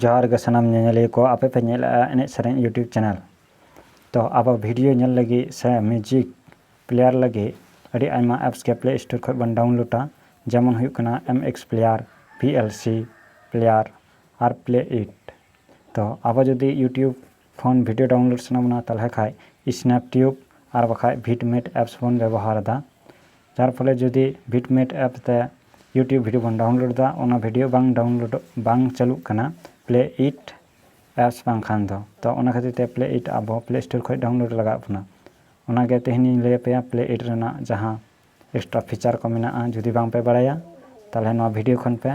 ᱡᱚᱦᱟᱨ ᱜᱮ ᱥᱟᱱᱟᱢ ᱧᱮᱧᱮᱞᱤᱭᱟᱹ ᱠᱚ ᱟᱯᱮ ᱯᱮ ᱧᱮᱞᱮᱫᱼᱟ ᱮᱱᱮᱡ ᱥᱮᱨᱮᱧ ᱤᱭᱩᱴᱤᱭᱩᱵᱽ ᱪᱮᱱᱮᱞ ᱛᱚ ᱟᱵᱚ ᱵᱷᱤᱰᱤᱭᱳ ᱧᱮᱞ ᱞᱟᱹᱜᱤᱫ ᱥᱮ ᱢᱤᱭᱩᱡᱤᱠ ᱯᱞᱮᱭᱟᱨ ᱞᱟᱹᱜᱤᱫ ᱟᱹᱰᱤ ᱟᱭᱢᱟ ᱮᱯᱥ ᱜᱮ ᱯᱞᱮ ᱥᱴᱳᱨ ᱠᱷᱚᱱ ᱵᱚᱱ ᱰᱟᱣᱩᱱᱞᱳᱰᱟ ᱡᱮᱢᱚᱱ ᱦᱩᱭᱩᱜ ᱠᱟᱱᱟ M X player V L C player ᱟᱨ ᱯᱞᱮ ᱤᱴ ᱛᱚ ᱟᱵᱚ ᱡᱩᱫᱤ ᱤᱭᱩᱴᱤᱭᱩᱵᱽ ᱠᱷᱚᱱ ᱵᱷᱤᱰᱤᱭᱳ ᱰᱟᱣᱩᱱᱞᱳᱰ ᱥᱟᱱᱟ ᱵᱚᱱᱟ ᱛᱟᱦᱚᱞᱮ ᱠᱷᱟᱱ ᱥᱱᱮᱯ ᱴᱤᱭᱩᱵᱽ ᱟᱨ ᱵᱟᱠᱷᱟᱱ ᱵᱷᱤᱴ ᱢᱮᱴ ᱮᱯᱥ ᱵᱚᱱ ᱵᱮᱵᱚᱦᱟᱨᱮᱫᱟ ᱡᱟᱨ ᱯᱷᱚᱞᱮ ᱡᱩᱫᱤ ᱵᱷᱤᱴᱢᱮᱴ ᱮᱯ ᱛᱮ ᱤᱭᱩᱴᱤᱭᱩᱵᱽ ᱵᱷᱤᱰᱤᱭᱳ ᱵᱚᱱ ᱰᱟᱣᱩᱱᱞᱳᱰ ᱮᱫᱟ ᱚᱱᱟ ᱵᱷᱤᱰᱤᱭᱳ ᱵᱟᱝ ᱰᱟᱣᱩᱱᱞᱳᱰ ᱵᱟᱝ ᱪᱟᱹᱞᱩᱜ ᱠᱟᱱᱟ ᱯᱞᱮ ᱤᱴ ᱮᱯᱥ ᱵᱟᱝᱠᱷᱟᱱ ᱫᱚ ᱛᱚ ᱚᱱᱟ ᱠᱷᱟᱹᱛᱤᱨ ᱛᱮ ᱯᱞᱮ ᱤᱴ ᱟᱵᱚ ᱯᱞᱮ ᱥᱴᱳᱨ ᱠᱷᱚᱱ ᱰᱟᱣᱩᱱᱞᱳᱰ ᱞᱟᱜᱟᱣ ᱵᱚᱱᱟ ᱚᱱᱟᱜᱮ ᱛᱮᱦᱮᱧᱤᱧ ᱞᱟᱹᱭ ᱟᱯᱮᱭᱟ ᱯᱞᱮ ᱤᱴ ᱨᱮᱱᱟᱜ ᱡᱟᱦᱟᱸ ᱮᱠᱥᱴᱨᱟ ᱯᱷᱤᱪᱟᱨ ᱠᱚ ᱢᱮᱱᱟᱜᱼᱟ ᱡᱩᱫᱤ ᱵᱟᱝ ᱯᱮ ᱵᱟᱲᱟᱭᱟ ᱛᱟᱦᱚᱞᱮ ᱱᱚᱣᱟ ᱵᱷᱤᱰᱤᱭᱳ ᱠᱷᱚᱱ ᱯᱮ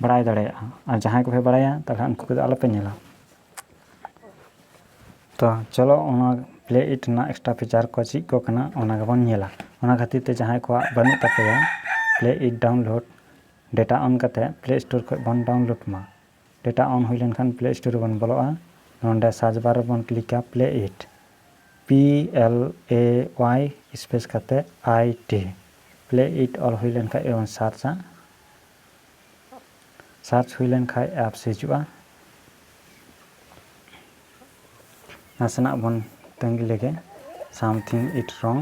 ᱵᱟᱲᱟᱭ ᱫᱟᱲᱮᱭᱟᱜᱼᱟ ᱟᱨ ᱡᱟᱦᱟᱸᱭ ᱠᱚᱯᱮ ᱵᱟᱲᱟᱭᱟ ᱛᱟᱦᱚᱞᱮ ᱩᱱᱠᱩ ᱠᱚᱫᱚ ᱟᱞᱚᱯᱮ ᱧᱮᱞᱟ ᱛᱚ ᱪᱚᱞᱚ ᱚᱱᱟ ᱯᱞᱮ ᱤᱴ ᱨᱮᱱᱟᱜ ᱮᱠᱥᱴᱨᱟ ᱯᱷᱤᱪᱟᱨ ᱠᱚ ᱪᱮᱫ ᱠᱚ ᱠᱟᱱᱟ ᱚᱱᱟ ᱜᱮᱵᱚᱱ ᱧᱮᱞᱟ ᱚᱱᱟ ᱠᱷᱟᱹᱛᱤᱨ ᱛᱮ ᱡᱟᱦᱟᱸᱭ ᱠᱚᱣᱟᱜ ᱵᱟᱹᱱᱩᱜ ᱛᱟᱯᱮᱭᱟ PLAYit download data on ᱠᱟᱛᱮ ᱯᱞᱮ ᱥᱴᱳᱨ ᱠᱷᱚᱱ ᱵᱚᱱ ᱰᱟᱣᱩᱱᱞᱳᱰ ᱢᱟ ᱰᱮᱴᱟ ᱚᱱ ᱦᱩᱭ ᱞᱮᱱᱠᱷᱟᱱ ᱯᱞᱮ ᱥᱴᱳᱨ ᱨᱮᱵᱚᱱ ᱵᱚᱞᱚᱜᱼᱟ ᱱᱚᱰᱮ ᱥᱟᱨᱪ ᱵᱟᱨ ᱨᱮᱵᱚᱱ ᱠᱞᱤᱠᱟ PLAYit P L A Y space ᱠᱟᱛᱮ ᱟᱭ ᱴᱤ ᱯᱞᱮ ᱤᱴ ᱚᱞ ᱦᱩᱭ ᱞᱮᱱᱠᱷᱟᱱ ᱜᱮᱵᱚᱱ ᱥᱟᱨᱪᱟ ᱥᱟᱨᱪ ᱦᱩᱭ ᱞᱮᱱ ᱠᱷᱟᱱ ᱮᱯᱥ ᱦᱤᱡᱩᱜᱼᱟ ᱱᱟᱥᱮᱱᱟᱜ ᱵᱚᱱ ᱛᱟᱺᱜᱤ ᱞᱮᱜᱮ ᱥᱟᱢᱛᱷᱤᱝ ᱤᱴ ᱨᱚᱝ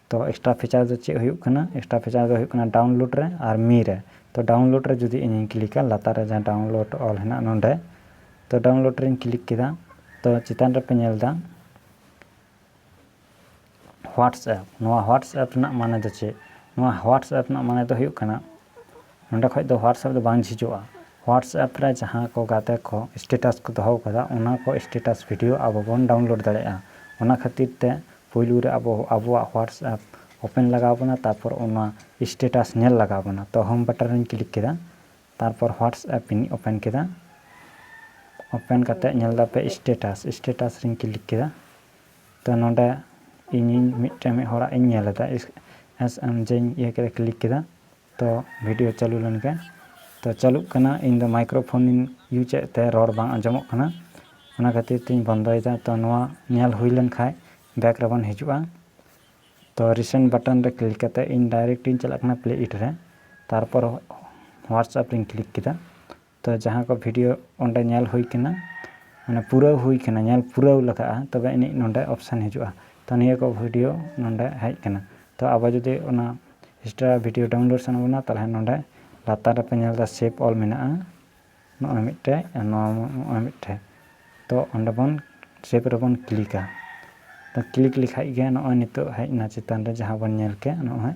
ᱛᱚ ᱮᱠᱥᱴᱨᱟ ᱯᱷᱤᱪᱟᱨ ᱫᱚ ᱪᱮᱫ ᱦᱩᱭᱩᱜ ᱠᱟᱱᱟ ᱮᱠᱥᱴᱨᱟ ᱯᱷᱤᱪᱟᱨ ᱫᱚ ᱦᱩᱭᱩᱜ ᱠᱟᱱᱟ ᱰᱟᱣᱩᱱᱞᱳᱰ ᱨᱮ ᱟᱨ ᱢᱤ ᱨᱮ ᱛᱚ ᱰᱟᱣᱩᱱᱞᱳᱰ ᱨᱮ ᱡᱩᱫᱤ ᱤᱧᱤᱧ ᱠᱞᱤᱠᱟ ᱞᱟᱛᱟᱨ ᱨᱮ ᱡᱟᱦᱟᱸ ᱰᱟᱣᱩᱱᱞᱳᱰ ᱚᱞ ᱦᱮᱱᱟᱜ ᱱᱚᱰᱮ ᱛᱚ ᱰᱟᱣᱩᱱᱞᱳᱰ ᱨᱮᱧ ᱠᱞᱤᱠ ᱠᱮᱫᱟ ᱛᱚ ᱪᱮᱛᱟᱱ ᱨᱮᱯᱮ ᱧᱮᱞ ᱮᱫᱟ ᱦᱳᱣᱟᱴᱥᱮᱯ ᱱᱚᱣᱟ ᱦᱳᱣᱟᱴᱥᱮᱯ ᱨᱮᱱᱟᱜ ᱢᱟᱱᱮ ᱫᱚ ᱪᱮᱫ ᱱᱚᱣᱟ ᱦᱳᱣᱟᱴᱥᱮᱯ ᱨᱮᱱᱟᱜ ᱢᱟᱱᱮ ᱫᱚ ᱦᱩᱭᱩᱜ ᱠᱟᱱᱟ ᱱᱚᱸᱰᱮ ᱠᱷᱚᱱ ᱫᱚ ᱦᱳᱣᱟᱴᱥᱮᱯ ᱫᱚ ᱵᱟᱝ ᱡᱷᱤᱡᱚᱜᱼᱟ ᱦᱳᱣᱟᱴᱥᱮᱯ ᱨᱮ ᱡᱟᱦᱟᱸ ᱠᱚ ᱜᱟᱛᱮ ᱠᱚ ᱥᱴᱮᱴᱟᱥ ᱠᱚ ᱫᱚᱦᱚ ᱟᱠᱟᱫᱟ ᱚᱱᱟ ᱠᱚ ᱥᱴᱮᱴᱟᱥ ᱵᱷᱤᱰᱤᱭᱳ ᱟᱵᱚ ᱵᱚᱱ ᱰᱟᱣᱩᱱᱞᱳᱰ ᱫᱟᱲᱮᱭᱟᱜᱼᱟ ᱚᱱᱟ ᱠᱷᱟᱹᱛᱤᱨ ᱛᱮ ᱯᱩᱭᱞᱩ ᱨᱮ ᱟᱵᱚ ᱟᱵᱚᱣᱟᱜ ᱦᱳᱣᱟᱴᱥᱮᱯ ᱳᱯᱮᱱ ᱞᱟᱜᱟᱣ ᱵᱚᱱᱟ ᱛᱟᱨᱯᱚᱨ ᱚᱱᱟ ᱥᱴᱮᱴᱟᱥ ᱧᱮᱞ ᱞᱟᱜᱟᱣ ᱵᱚᱱᱟ ᱛᱚ ᱦᱳᱢ ᱵᱟᱴᱚᱱ ᱨᱮᱧ ᱠᱞᱤᱠ ᱠᱮᱫᱟ ᱛᱟᱨᱯᱚᱨ ᱦᱳᱣᱟᱴᱥᱮᱯ ᱤᱧ ᱳᱯᱮᱱ ᱠᱮᱫᱟ ᱳᱯᱮᱱ ᱠᱟᱛᱮ ᱧᱮᱞ ᱫᱟᱯᱮ ᱥᱴᱮᱴᱟᱥ ᱥᱴᱮᱴᱟᱥ ᱨᱮᱧ ᱠᱞᱤᱠ ᱠᱮᱫᱟ ᱛᱚ ᱱᱚᱸᱰᱮ ᱤᱧᱤᱧ ᱢᱤᱫᱴᱮᱱ ᱢᱤᱫ ᱦᱚᱲᱟᱜ ᱤᱧ ᱧᱮᱞ ᱮᱫᱟ ᱮᱥ ᱮᱢ ᱡᱮᱧ ᱤᱭᱟᱹ ᱠᱮᱫᱟ ᱠᱞᱤᱠ ᱠᱮᱫᱟ ᱛᱚ ᱵᱷᱤᱰᱤᱭᱳ ᱪᱟᱹᱞᱩ ᱞᱮᱱ ᱜᱮ ᱛᱚ ᱪᱟᱹᱞᱩᱜ ᱠᱟᱱᱟ ᱤᱧ ᱫᱚ ᱢᱟᱭᱠᱨᱳ ᱯᱷᱳᱱ ᱤᱧ ᱤᱭᱩᱡᱽ ᱮᱫ ᱛᱮ ᱨᱚᱲ ᱵᱟᱝ ᱟᱸᱡᱚᱢᱚᱜ ᱠᱟᱱᱟ ᱚᱱᱟ ᱠᱷᱟᱹᱛᱤᱨ ᱛᱤᱧ ᱵᱚᱱᱫᱚᱭᱮᱫᱟ ᱛᱚ ᱱᱚᱣᱟ ᱧᱮᱞ ᱦᱩᱭ ᱞᱮᱱ ᱠᱷᱟᱡ ᱵᱮᱠ ᱨᱮᱵᱚᱱ ᱦᱤᱡᱩᱜᱼᱟ ᱛᱚ ᱨᱤᱥᱮᱱᱴ ᱵᱟᱴᱚᱱ ᱨᱮ ᱠᱞᱤᱠ ᱠᱟᱛᱮ ᱤᱧ ᱰᱟᱭᱨᱮᱠᱴ ᱤᱧ ᱪᱟᱞᱟᱜ ᱠᱟᱱᱟ ᱯᱞᱮ ᱤᱴ ᱨᱮ ᱛᱟᱨᱯᱚᱨ ᱦᱳᱣᱟᱴᱥᱮᱯ ᱨᱮᱧ ᱠᱞᱤᱠ ᱠᱮᱫᱟ ᱛᱚ ᱡᱟᱦᱟᱸ ᱠᱚ ᱵᱷᱤᱰᱤᱭᱳ ᱚᱸᱰᱮ ᱧᱮᱞ ᱦᱩᱭ ᱠᱟᱱᱟ ᱢᱟᱱᱮ ᱯᱩᱨᱟᱹᱣ ᱦᱩᱭ ᱠᱟᱱᱟ ᱧᱮᱞ ᱯᱩᱨᱟᱹᱣ ᱞᱟᱜᱟᱜᱼᱟ ᱛᱚᱵᱮ ᱟᱹᱱᱤᱡ ᱱᱚᱸᱰᱮ ᱚᱯᱥᱮᱱ ᱦᱤᱡᱩᱜᱼᱟ ᱛᱚ ᱱᱤᱭᱟᱹ ᱠᱚ ᱵᱷᱤᱰᱤᱭᱳ ᱱᱚᱸᱰᱮ ᱦᱮᱡ ᱠᱟᱱᱟ ᱛᱚ ᱟᱵᱚ ᱡᱩᱫᱤ ᱚᱱᱟ ᱮᱠᱥᱴᱨᱟ ᱵᱷᱤᱰᱤᱭᱳ ᱰᱟᱣᱩᱱᱞᱳᱰ ᱥᱟᱱᱟ ᱵᱚᱱᱟ ᱛᱟᱦᱚᱞᱮ ᱱᱚᱸᱰᱮ ᱞᱟᱛᱟᱨ ᱨᱮᱯᱮ ᱧᱮᱞ ᱮᱫᱟ ᱥᱮᱯ ᱚᱞ ᱢᱮᱱᱟᱜᱼᱟ ᱱᱚᱜᱼᱚᱭ ᱢᱤᱫᱴᱮᱡ ᱱᱚᱣᱟ ᱱᱚᱜᱼᱚᱭ ᱢᱤᱫᱴᱮᱡ ᱛᱚ ᱚᱸᱰᱮ ᱵᱚᱱ ᱥᱮᱯ ᱨᱮᱵᱚᱱ ᱠᱞᱤᱠᱟ ᱛᱚ ᱠᱞᱤᱠ ᱞᱮᱠᱷᱟᱡ ᱜᱮ ᱱᱚᱜᱼᱚᱭ ᱱᱤᱛᱚᱜ ᱦᱮᱡ ᱮᱱᱟ ᱪᱮᱛᱟᱱ ᱨᱮ ᱡᱟᱦᱟᱸ ᱵᱚᱱ ᱧᱮᱞ ᱠᱮᱫ ᱱᱚᱜᱼᱚᱭ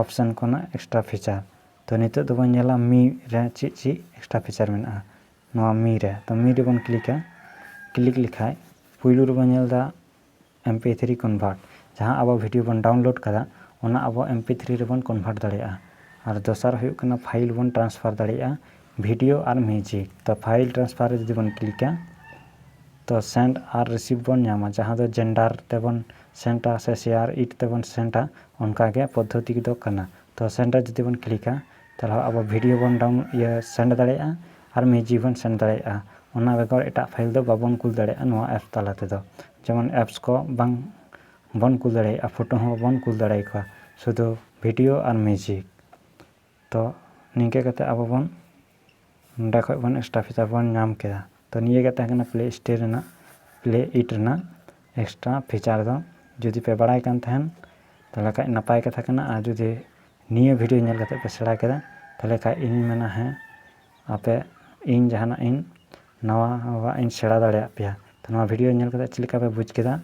ᱚᱯᱥᱮᱱ ᱠᱷᱚᱱᱟᱜ ᱮᱠᱥᱴᱨᱟ ᱯᱷᱤᱪᱟᱨ ᱛᱚ ᱱᱤᱛᱚᱜ ᱫᱚᱵᱚᱱ ᱧᱮᱞᱟ ᱢᱤ ᱨᱮ ᱪᱮᱫ ᱪᱮᱫ ᱮᱠᱥᱴᱨᱟ ᱯᱷᱤᱪᱟᱨ ᱢᱮᱱᱟᱜᱼᱟ ᱱᱚᱣᱟ ᱢᱤ ᱨᱮ ᱛᱚ ᱢᱤ ᱨᱮᱵᱚᱱ ᱠᱞᱤᱠᱟ ᱠᱞᱤᱠ ᱞᱮᱠᱷᱟᱡ ᱯᱩᱭᱞᱩ ᱨᱮᱵᱚᱱ ᱧᱮᱞ ᱮᱫᱟ ᱮᱢ ᱯᱤ ᱛᱷᱨᱤ ᱠᱚᱱᱵᱷᱟᱨᱴ ᱡᱟᱦᱟᱸ ᱟᱵᱚ ᱵᱷᱤᱰᱭᱳ ᱵᱚᱱ ᱰᱟᱣᱩᱱᱞᱳᱰ ᱠᱟᱫᱟ ᱚᱱᱟ ᱟᱵᱚ ᱮᱢ ᱯᱤ ᱛᱷᱨᱤ ᱨᱮᱵᱚᱱ ᱠᱚᱱᱵᱷᱟᱨᱴ ᱫᱟᱲᱮᱭᱟᱜᱼᱟ ᱟᱨ ᱫᱚᱥᱟᱨ ᱦᱩᱭᱩᱜ ᱠᱟᱱᱟ ᱯᱷᱟᱭᱤᱞ ᱵᱚᱱ ᱴᱨᱟᱱᱥᱯᱷᱟᱨ ᱫᱟᱲᱮᱭᱟᱜᱼᱟ ᱵᱷᱤᱰᱤᱭᱳ ᱟᱨ ᱢᱤᱣᱡᱤᱠ ᱛᱚ ᱯᱷᱟᱭᱤᱞ ᱴᱨᱟᱱᱥᱯᱷᱟᱨ ᱨᱮ ᱡᱩᱫᱤ ᱵᱚᱱ ᱠᱞᱤᱠᱟ ᱛᱚ ᱥᱮᱱᱰ ᱟᱨ ᱨᱤᱥᱤᱵᱷ ᱵᱚᱱ ᱧᱟᱢᱟ ᱡᱟᱦᱟᱸ ᱫᱚ ᱡᱮᱱᱰᱟᱨ ᱛᱮᱵᱚᱱ ᱥᱮᱱᱰ ᱟ ᱥᱮ ᱥᱮᱭᱟᱨ ᱤᱴ ᱛᱮᱵᱚᱱ ᱥᱮᱱᱰ ᱟ ᱚᱱᱠᱟ ᱜᱮ ᱯᱚᱫᱽᱫᱷᱚᱛᱤ ᱫᱚ ᱠᱟᱱᱟ ᱛᱚ ᱥᱮᱱᱰ ᱨᱮ ᱡᱩᱫᱤ ᱵᱚᱱ ᱠᱞᱤᱠᱟ ᱛᱟᱦᱚᱞᱮ ᱟᱵᱚ ᱵᱷᱤᱰᱤᱭᱳ ᱵᱚᱱ ᱰᱟᱣᱩᱱ ᱤᱭᱟᱹ ᱥᱮᱱᱰ ᱫᱟᱲᱮᱭᱟᱜᱼᱟ ᱟᱨ ᱢᱤᱣᱡᱤᱠ ᱵᱚᱱ ᱥᱮᱱᱰ ᱫᱟᱲᱮᱭᱟᱜᱼᱟ ᱚᱱᱟ ᱵᱮᱜᱚᱨ ᱮᱴᱟᱜ ᱯᱷᱟᱭᱤᱞ ᱫᱚ ᱵᱟᱵᱚᱱ ᱠᱩᱞ ᱫᱟᱲᱮᱭᱟᱜᱼᱟ ᱱᱚᱣᱟ ᱮᱯᱥ ᱛᱟᱞᱟ ᱛᱮᱫᱚ ᱡᱮᱢᱚᱱ ᱮᱯᱥ ᱠᱚ ᱵᱟᱝ ᱵᱚᱱ ᱠᱩᱞ ᱫᱟᱲᱮᱭᱟᱜᱼᱟ ᱯᱷᱳᱴᱳ ᱦᱚᱸ ᱵᱟᱵᱚᱱ ᱠᱩᱞ ᱫᱟᱲᱮᱭᱟᱠᱚᱣᱟ ᱥᱩᱫᱩ ᱵᱷᱤᱰᱤᱭᱳ ᱟᱨ ᱢᱤᱣᱡᱤᱠ ᱛᱚ ᱱᱤᱝᱠᱟᱹ ᱠᱟᱛᱮᱫ ᱟᱵᱚ ᱵᱚᱱ ᱱᱚᱸᱰᱮ ᱠᱷᱚᱱ ᱵᱚᱱ ᱮᱥᱴᱟᱯᱷᱤᱪᱟᱨ ᱵᱚᱱ ᱧᱟᱢ ᱠᱮᱫᱟ ᱛᱚ ᱱᱤᱭᱟᱹ ᱜᱮ ᱛᱟᱦᱮᱸ ᱠᱟᱱᱟ ᱯᱞᱮ ᱥᱴᱳᱨ ᱨᱮᱱᱟᱜ ᱯᱞᱮ ᱤᱴ ᱨᱮᱱᱟᱜ ᱮᱠᱥᱴᱨᱟ ᱯᱷᱤᱪᱟᱨ ᱫᱚ ᱡᱩᱫᱤ ᱯᱮ ᱵᱟᱲᱟᱭ ᱠᱟᱱ ᱛᱟᱦᱮᱱ ᱛᱟᱦᱚᱞᱮ ᱠᱷᱟᱱ ᱱᱟᱯᱟᱭ ᱠᱟᱛᱷᱟ ᱠᱟᱱᱟ ᱟᱨ ᱡᱩᱫᱤ ᱱᱤᱭᱟᱹ ᱵᱷᱤᱰᱭᱳ ᱧᱮᱞ ᱠᱟᱛᱮᱫ ᱯᱮ ᱥᱮᱬᱟ ᱠᱮᱫᱟ ᱛᱟᱦᱚᱞᱮ ᱠᱷᱟᱱ ᱤᱧ ᱢᱮᱱᱟ ᱦᱮᱸ ᱟᱯᱮ ᱤᱧ ᱡᱟᱦᱟᱱᱟᱜ ᱤᱧ ᱱᱟᱣᱟᱣᱟᱜ ᱤᱧ ᱥᱮᱬᱟ ᱫᱟᱲᱮᱭᱟᱜ ᱯᱮᱭᱟ ᱛᱚ ᱱᱚᱣᱟ ᱵᱷᱤᱰᱭᱳ ᱧᱮᱞ ᱠᱟᱛᱮᱫ ᱪᱮᱫ ᱞᱮᱠᱟ ᱯᱮ ᱵᱩᱡᱽ ᱠᱮᱫᱟ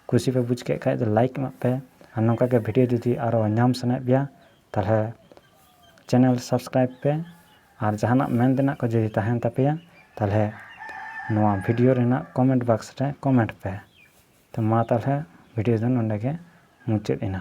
ᱠᱩᱥᱤ ᱯᱮ ᱵᱩᱡᱽ ᱠᱮᱫ ᱠᱷᱟᱱ ᱫᱚ ᱞᱟᱭᱤᱠ ᱮᱢᱟᱜ ᱯᱮ ᱟᱨ ᱱᱚᱝᱠᱟ ᱜᱮ ᱵᱷᱤᱰᱭᱳ ᱡᱩᱫᱤ ᱟᱨᱚ ᱧᱟᱢ ᱥᱟᱱᱟᱭᱮᱫ ᱯᱮᱭᱟ ᱛᱟᱦᱚᱞᱮ ᱪᱮᱱᱮᱞ ᱥᱟᱵᱥᱠᱨᱟᱭᱤᱵᱽ ᱯᱮ ᱟᱨ ᱡᱟᱦᱟᱱᱟᱜ ᱢᱮᱱ ᱛᱮᱱᱟᱜ ᱠᱚ ᱡᱩᱫᱤ ᱛᱟᱦᱮᱱ ᱛᱟᱯᱮᱭᱟ ᱛᱟᱦᱚᱞᱮ ᱱᱚᱣᱟ ᱵᱷᱤᱰᱤᱭᱳ ᱨᱮᱱᱟᱜ ᱠᱚᱢᱮᱱᱴ ᱵᱟᱠᱥ ᱨᱮ ᱠᱚᱢᱮᱱᱴ ᱯᱮ ᱛᱚ ᱢᱟ ᱛᱟᱦᱚᱞᱮ ᱵᱷᱤᱰᱤᱭᱳ ᱫᱚ ᱱᱚᱰᱮ ᱜᱮ ᱢᱩᱪᱟᱹᱫ ᱮᱱᱟ